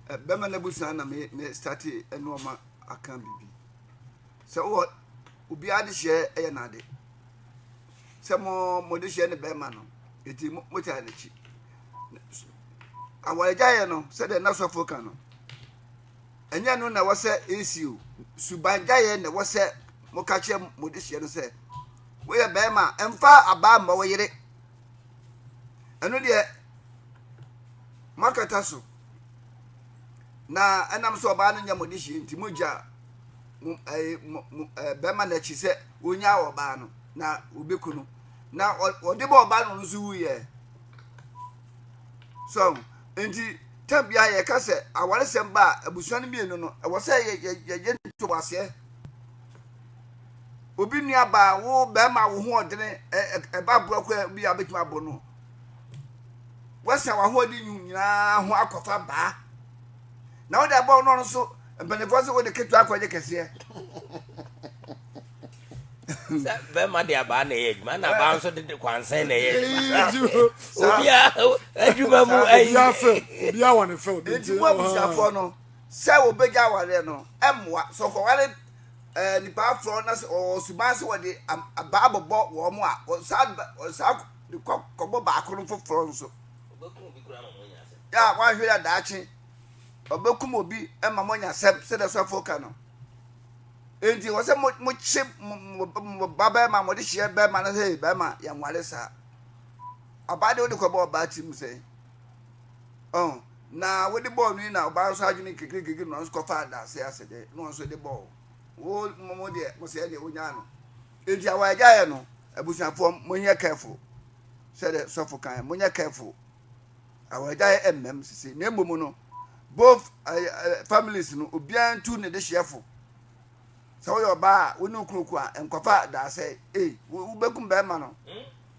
a bɛma no abusua na me me starte nneɛma aka biribi sɛ wɔ obiara de hyɛ yɛ n'ade sɛ mo mo de hyɛ ne bɛrima no eti mo mo taa n'akyi awaregya yɛ no sɛdeɛ na sɔfo ka no ɛnyɛ no na ɛwɔ sɛ esi o subangya yɛ na ɛwɔ sɛ mo ka kyerɛ mo de hyɛ no sɛ woyɛ bɛrima mfa abaa mma wo yere. ɛno deɛ moakata so na ɛnam sɛ ɔbaa no nyɛ mo de hyeɛ nti mogya bɛrima no akyi sɛ ɔnya ɔbaa no na ɔbɛku no na ɔde bɔ ɔbaa no no nso wuyɛ so nti tam biara yɛka sɛ awaresɛm ba a abusua no mmienu no ɛwɔ sɛ yɛyɛ ntoboaseɛ obi nuabaa, wo barima a wo ho ɔdene, ɛba borɔkɔ bi a wobɛtumi abɔ no, woasa w'ahoɔden nwu nyinaa ho akɔfa baa na wode abɔ no no so mpanimfoɔ sɛ wode ketewa akɔgye kɛseɛ sɛ bɛrima de abaa na ɛyɛ adwuma na abaa nso de kwansɛn na ɛyɛ adwuma mu nti mo abusuafoɔ no sɛ wɔbɛgya awareɛ no ɛmmoa sɛ ɔkɔware nnipa aforɔ na sɛ wɔwɔ suban sɛ wɔde abaa bɛbɔ wɔn a, wɔsan wɔsan de kɔ kɔbɔ baako no foforɔ nso. Yɛ a wɔahwɛ yɛ daakye ɔbɛkum obi ma mo nya sɛm sɛdeɛ sɔfo ka no. Enti wɔ sɛ mo kye mo ba bɛrima mo de hyɛ bɛrima no sɛ bɛrima yɛn ware saa. Ɔbaa de wode kɔbɔ ɔbaa ti mu sɛn. Oh. Na wode bɔɔ no yi na ɔbaa nso adwene kekrekekre na ɔno nso kɔfaa dase ase de na ɔno nso de bɔɔ wo mo mo deɛ mo sɛɛ deɛ wonyaa no enti awa agyaeɛ no abusuafoɔ monyɛ careful sɛdeɛ sɔfo kan monyɛ careful awa agyaeɛ ɛmmɛm sisi na mmom no both uh, uh, families no obiara ntu ne dehyeɛfo Sɛ woyɛ ɔbaa a wo ne wo kunu ko a, nkɔfa daasɛ. E, wo, wobɛkum bɛrima no.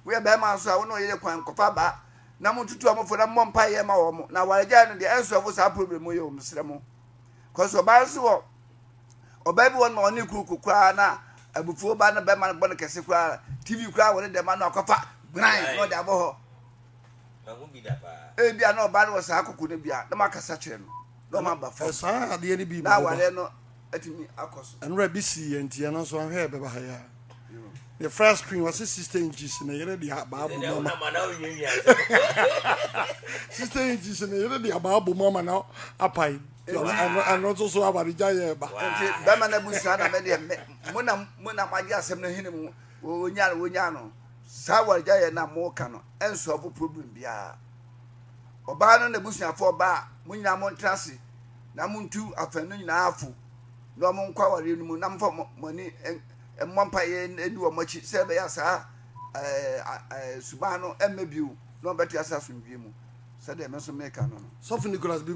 Woyɛ bɛrima nso a wo ne wo yere ko a, nkɔfa ba. Na montutu wɔn fo na mommɔ mpaeɛ mma wɔn. Na awaregyaeɛ no deɛ, ɛnsɔɔfo saa problem yi o, mesrɛ mo. Kɔso ɔbaa nso wɔ, ɔbaa bi wɔ no ma ɔne kunu ko koraa na abufuo ba na bɛrima no bɔ no kɛse koraa. TV koraa wɔde dɛm ano akɔfa gran na ɔde abɔ hɔ. Ebi a na ɔbaa no wɔ saa koko no bi a, na makasa kyerɛ no. Na ɔma aba fam. Ɛsaa adeɛ no bi ma ɔba. Na awareɛ no. atumi akɔ so. Ɛnora bi sii yɛn nti ɛno nso ɔnhwɛ ɛbɛba ha yi a. Ne flat screen wɔsi sixty inches ne yere de abaa bom ama. Sixty inches ne yere de abaa bom ama na apae. Ɛno nso so aba de gya yɛ ɛba. Nti bɛma na busua na mɛ deɛ mo na mo na mo agye asɛm no hene mu wonya no wonya no saa wɔre gya yɛ na mo ka no ɛnsɔfo problem biara ɔbaa no na busuafoɔ ɔbaa mo nyinaa mo ntra ase. na montu afanu no nyinaa fo na wɔn nkɔ awareɛ no mu na mofa mo ani mmɔ mpaeɛ di wɔn akyi sɛ ɛbɛyɛ saa suban no ɛmmɛ bio na wɔbɛte ase asomdwie mu sɛdeɛ me nso meka no no. Sɔfo Nicholas B.